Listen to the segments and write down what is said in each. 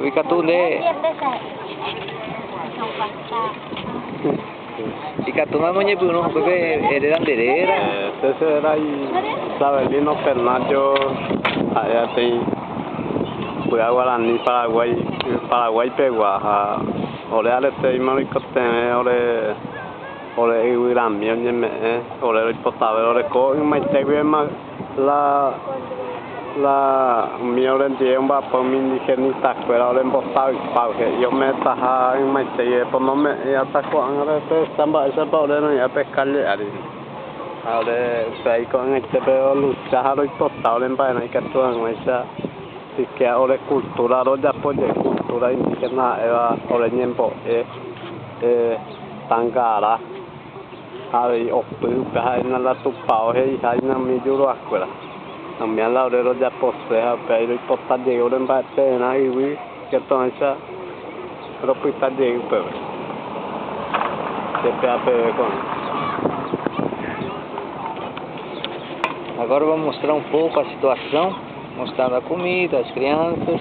Ikatu nde ikatúma moñepyrũ upépe eréra nde réra. Che che réra Isabelino Pernacho ha'e aty Py'a Guarani Paraguái Paraguái pegua ha ore aretéima roikotevẽ ore ore yvy rami oñeme'ẽ ore roipotavẽ oreko ymaite guivéma La la umi orendive omba'apo umi indigenitakuéra orembosavypávo he'i ometaha ymaiteígui eponome'ẽ ata ko'ág̃a rehecha mba'éichapa ore roĩ'ã pe kálle ári. Ha ore upéva iko'ag̃aite pe rolucha ha roipota oremba'erã ikatu hag̃uáicha siquiera ore kultúra rojapo jey kultúra indígena ha'éva ore ñembo'e tangarã. Ha avei opy upe ha'éna la Tupao he'iha inami juruakuéra. Nomía la ore rojapose ha upévai roipota jey ore mba'ete'erã yvy katu'ãicha ropyta jey upépe. Chepea peve ko'ã. Agora vou mostrar um pouco a situação, mostrando a comida, as crianças.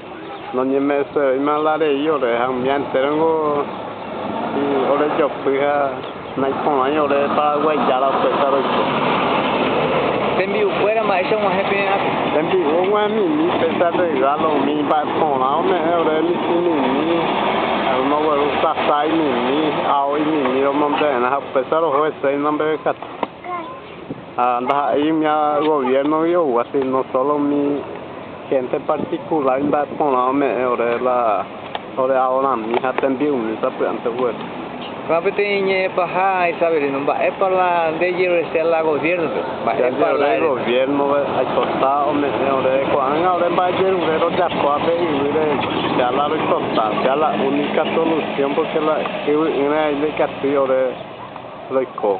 Noñeme'ẽsevéima la rei ore ha umi entérongo orejopy ha naiporãi ore Paraguái Jára opyta roiko. Tembi'ukuéra mba'éicha og̃uahẽ pererãpe? Tembi'u og̃uahẽmimi pesa rregálo umi mba'e porã ome'ẽ ore michĩmimi, romogueru sasa aimimi, ao imimi romombe'erã ha upésa roho hese oinondevekatu. Ha ndaha'éi umi goviérnogui oúva, síno sólo umi hénte partikulár imba'e porã ome'ẽ ore la ore aorami ha tembi'umi sapy'ánte ogueru. Ha peteĩ ñe'ẽ paha Isabelino, Mba'épa la nde jerureséi la goviérnope? Mba'épa la eréta? Jajerure goviérnove, aipota ome'ẽ ore ko'ág̃a ore mba'ejerure rojapoha pe yvýre che la roipota, che la única solución, pórke la yvy'ỹre aime ikatúi ore roiko.